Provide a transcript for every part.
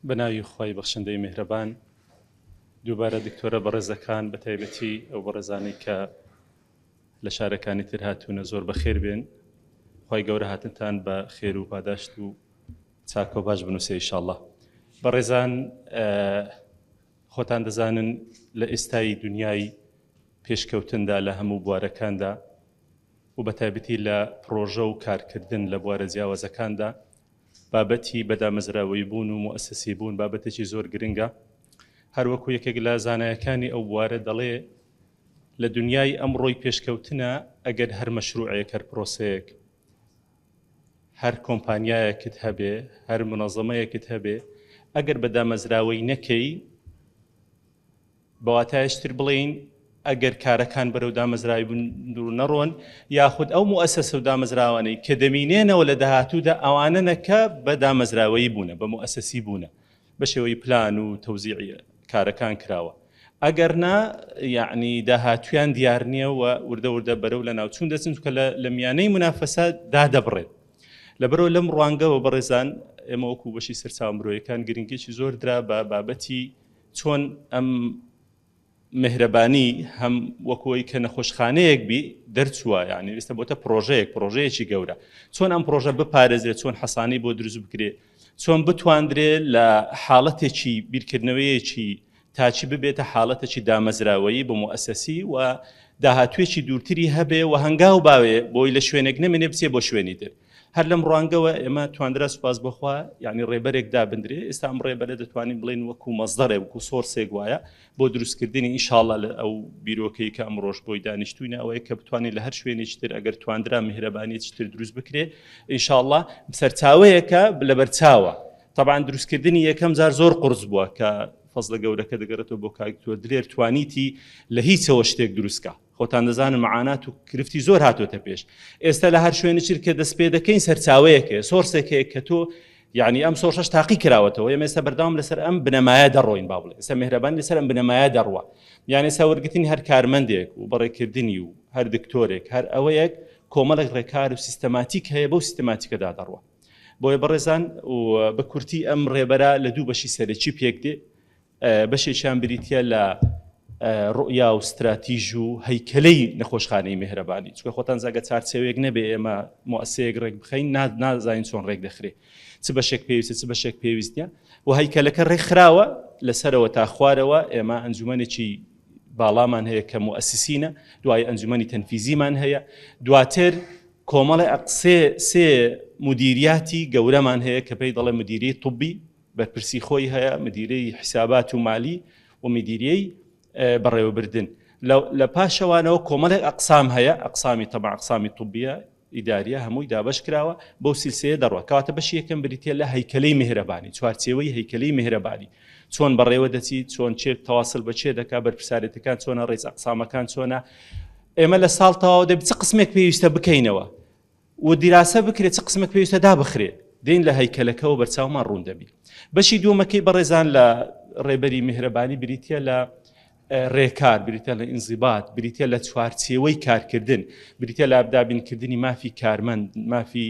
بەناوی خوای بەخشندەی مێهرەبان دووبارە دکتۆرە بەڕێزەکان بە تایبەتی ئەو بەڕێزانەی کە لە شارەکانی تر هاتوونە زۆر بەخێر بێن خی گەورە هاتنتان بە خێر و پاداشت و چاکۆ باش بنووسێ ئیشاءله بەڕێزان خۆتان دەزانن لە ئێستای دنیای پێشکەوتندا لە هەموو بوارەکاندا و بە تایبەتی لە پرۆژە و کارکردن لە بوارە جیاوازەکاندا بابەتی بە دامەزراوەیی بوون و موئەسەسی بوون بابەتێکی زۆر گرنگە هەر وەکو یەکێک لە زانایەکانی ئەو بوارە دەڵێ لە دنیای ئەمڕۆی پێشکەوتنە ئەگەر هەر مەشروعەیەک هەر پرۆسەیەک هەر کۆمپانیایەکت هەبێ هەر منەظەمەیەکت هەبێ ئەگەر بە دامەزراوەی نەکەی بە واتایش تر بڵێین ئەگەر کارەکان بەرەو دامەزراوی بندور نەڕۆن یاخود ئەو موەسەسە و دامەزراوانەی کە دەمینێنەوە لە داهاتوودا ئەوانە نەکە بە دامەزراوەیی بوونە بە موەسەسی بوونە بە شێوەی پلان و تەوزیعە کارەکان کراوە ئەگەر نا یعنی داهاتویان دیار نییە و وردە وردە بەرەو لە ناوچون دەچن کە لە میانەی منافەسە دادەبڕێت لەبەرەوە لەم ڕوانگەوە بەڕێزان ئێمە وەکو بەشی سەرچاو مرۆیەکان گرنگێکی زۆر درا بە بابەتی چۆن ئەم مێهرەبانی هەم وەک ئەوەی کە نەخۆشخانەیەک بی دەرچووە یانی ئێستا بۆتە پرۆژەیەک پرۆژەیەکی گەورە چۆن ئەم پرۆژە بپارێزرێت چۆن حەسانی بۆ دروست بکرێت چۆن بتواندرێ لە حاڵەتێکی بیرکردنەوەیەکی تاچی ببێتە حاڵەتێکی دامەزراوەیی بە موئسەسی و داهاتوێکی دوورتری هەبێ و هەنگاو باوێ بۆی لە شوێنێک نەمێنێ بچێ بۆ شوێنی تر هەر لەم ڕوانگەوە ئێمە تواندرا سوپاس بخوا یعنی ڕێبەرێک دابدرێ ئێستا ئەم ڕێبەرە دەتوانین بڵێن وەکو مەزدەڕێ وکو سۆرسێک وایە بۆ دروستکردنی ئینشاالله لە ئەو بیرۆکەی کە ئەم ڕۆژ بۆی دانیشتوینە ئەوەیە کە بتوانین لە هەر شوێنێکتر ئەگەر تواندرا میهرەبانیتر دروست بکرێ ئینشاالله سەرچاوەیەکە لە بەرچاوە طبعا دروستکردنی یەکەم زار زۆر قرس بووە کە فەزلە گەورەکە دەگەڕێتەوە بۆ کاکتۆر دلێر توانیتی لە هیچەوە شتێک دروستکە خۆتان دەزانن معانات و کرفتی زۆر هاتۆتە پێش ئێستا لە هەر شوێنە چیر کە دەست پێ دەکەین سەرچاوەیەکێ سۆرسێک هەیە کە تۆ یعنی ئەم سۆرشش تاقی کراوەتەوە ئێمە ئێستا بەرداوام لەسەر ئەم بنەمایە دەڕۆین با بڵێ ئێستا مهرەبان لەسەر ئەم بنەمایە دەڕوە یانە ساوەرگتنی هەر کارمەندێک و بەڕێکردنی و هەر دکتۆرێک هەر ئەوەیەک کۆمەڵێک ڕێکار و سیستەماتیک هەیە بەو سیستەماتیکەدا دەڕوە بۆیە بەڕێزان و بە کورتی ئەم ڕێبەرە لە دوو بەشی سەرەکی پێک دێ بەشێکیان بریتییە لە ڕوئیا و ستراتیژ و هەیکەلەی نەخۆشخانەی مهرەبانی چکە خۆتان زاگە چارچەوەیەک نەبێ ئێمە موسەیەک ڕێک بخین نازانین چۆن ڕێک دەخرێ چ بەشێک پێویستە چ بەشێک پێویستە و هەیکەلەکە ڕێکخراوە لەسەرەوە تا خوارەوە ئێمە ئەنجومەنێکی باڵامان هەیە کە موسسینە دوای ئەنجومەنی تەنفیزیمان هەیە دواتر کۆمەڵی ئەقسێ سێ مدیریاتی گەورەمان هەیە کە پێی دەڵێ مدیری طبی بەرپرسی خۆی هەیە مدیرەی حیسابات و مالی و مدیریەی بەڕێوەبردن لە پاشەوانەوە کۆمەڵێک ئەقسام هەیە ئەقسامی تەبع ئەقسامی طبیە ئیداریە هەمووی دابش کراوە بۆ سیلسەیە دەڕوە کەواتە بەشی یەکەم بریتە لە هەیکەلەی مهرەبانی چوارچێوەی هەیکەلەی مهرەبانی چۆن بەڕێوە دەچی چۆن چێت تەواصل بە چێ دەکا بەرپسارێتەکان چۆنە ڕێز ئەقسامەکان چۆنە ئێمە لە ساڵ تەواو دەبچ قسمێک پێویستە بکەینەوە و دیراسە بکرێت چ قسمەک پێویستە دابخرێ دین لە هەیکەلەکەەوە بەرچاومان ڕوون دەبی بەشی دووەمەکەی بەڕێزان لە ڕێبەری میهرەبانی بریتە لە ڕێکار بریتە لە ئینزیبات بریتە لە چوارچێوەی کارکردن بریتە لە ئابدابینکردنی مافی کارمەند مافی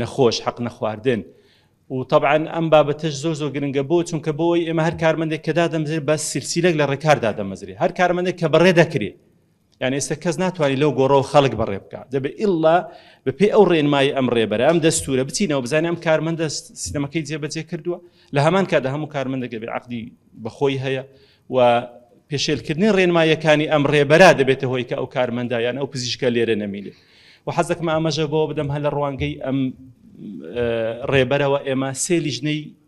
نەخۆش حەق نەخواردن و طبعاان ئەم بابەتەش زۆر زۆر گرنگە بۆ چونکە بۆی ئێمە هەر کارمەندێک کە دادەمزێت بە سرسیلێک لە ڕێکاردا دەمەزرێ هەر کارمەندێک کە بەڕێ دەکرێت یان ئێستا کەس ناتوانانی لەو گۆڕەوە خەڵک بەڕێ بکە دەبێ ئللا بەپێ ئەو ڕێنمایی ئەم ڕێبەرە ئەم دەستورە بچینەوە بزانانی ئەم کارمەندە سیستەمەکەی جێبەجێ کردووە لە هەمان کادا هەموو کارمەندەگە بێ عقدی بەخۆی هەیە و پێشێلکردنی ڕێنمایەکانی ئەم ڕێبەرا دەبێتە هۆی کە ئەو کارمەندایان ئەو پزیشکە لێرە نەمینێ و حەزەکم ئامەژە بۆ بدەم هە لە ڕوانگەی ئەم ڕێبەرەوە ئێمە سێ لیژنەی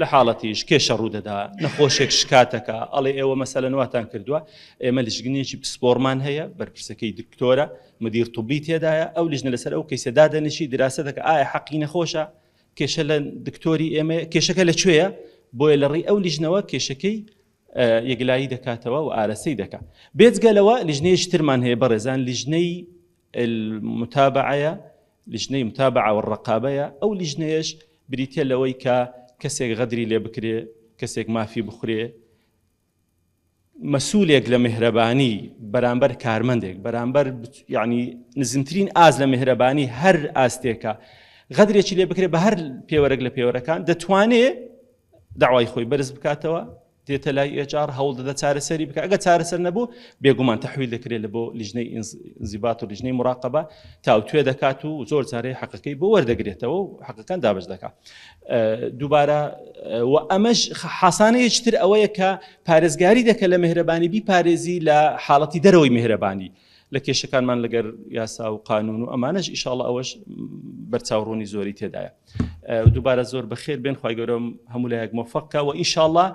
لە حاڵەتیش کێشە ڕوودەدا نەخۆشێک شکاتەکە ئەڵێ ئێوە مەسەلەن واتان کردووە ئێمە لژگنێکی پسپۆرمان هەیە بەرپرسەکەی دکتۆرە مدیر طبی تێدایە ئەو لژنە لەسەر ئەو کەیسە دادەنیشی دراسە دەکە ئایا حەقی نەخۆشە کێشە لە دکتۆری ئێمە کێشەکە لە کوێیە بۆیە لە ڕێی ئەو لیژنەوە کێشەکەی یەکلایی دەکاتەوە و ئارەسەی دەکات بێجگە لەوە لیژنەیەش ترمان هەیە بەڕێزان لیژنەی المتابعەیە، لجنەی متابعە والرقابە، یە، ئەو لیژنەیەش بریتیە لەوەی کە کەسێک غەدری لێ بکرێ، کەسێک مافی بخورێ، مەسولێک لە مهرەبانی بەرامبەر کارمەندێک بەرامبەر یعنی نزمترین ئاز لە مهرەبانی هەر ئاستێکە غەدرێکی لێ بکرێت بە هەر پێوەرەك لە پێوەرەکان دەتوانێ داوای خۆی بەرز بکاتەوە دێتە لای ئێچ ئاڕ هەوڵ دەدە چارەسەری بکە ئەگە چارەسەر نەبوو بێگومان تەحویل دەکرێت لە بۆ لیژنەی ئینزیبات و لیژنەی مراقبە تاوتوێ دەکات و زۆر جارەی حەقەکەی بۆ وەردەگرێتەوە و حەقەکان دابش دەکات دووبارە و ئەمەش حسانەیەتر ئەوەیە کە پارێزگاری دەکە لە مهرەبانی بی پارێزی لە حاڵەتی دەرەوەی مهرەبانی لە کێشەکانمان لەگەر یاسا و قانون و ئەمانەش ئیشاڵ ئەوەش بەرچاوڕوونی زۆری تێدایە دووبارە زۆر بەخێر بێن خی گەورم هەموو لایەک مۆفقکە و ئیشاڵە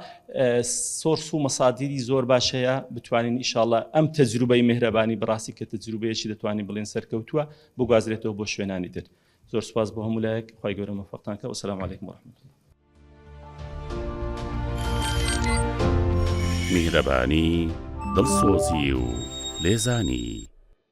سۆرس و مەسادیری زۆر باشەیە بتوانین ئیشاڵە ئەم تەجروبەی مهرەبانی بڕاستی کە تەجروبەیەکی دەتوانین بڵێن سەرکەوتووە بگوازرێتەوە بۆ شوێنانی تر زۆر سپاس بۆ هەموو لایەک خی گەورە مەفەقتان کە وسلام عیکم وەرحمت الله میهرەبانی دڵسۆزی و لێزانی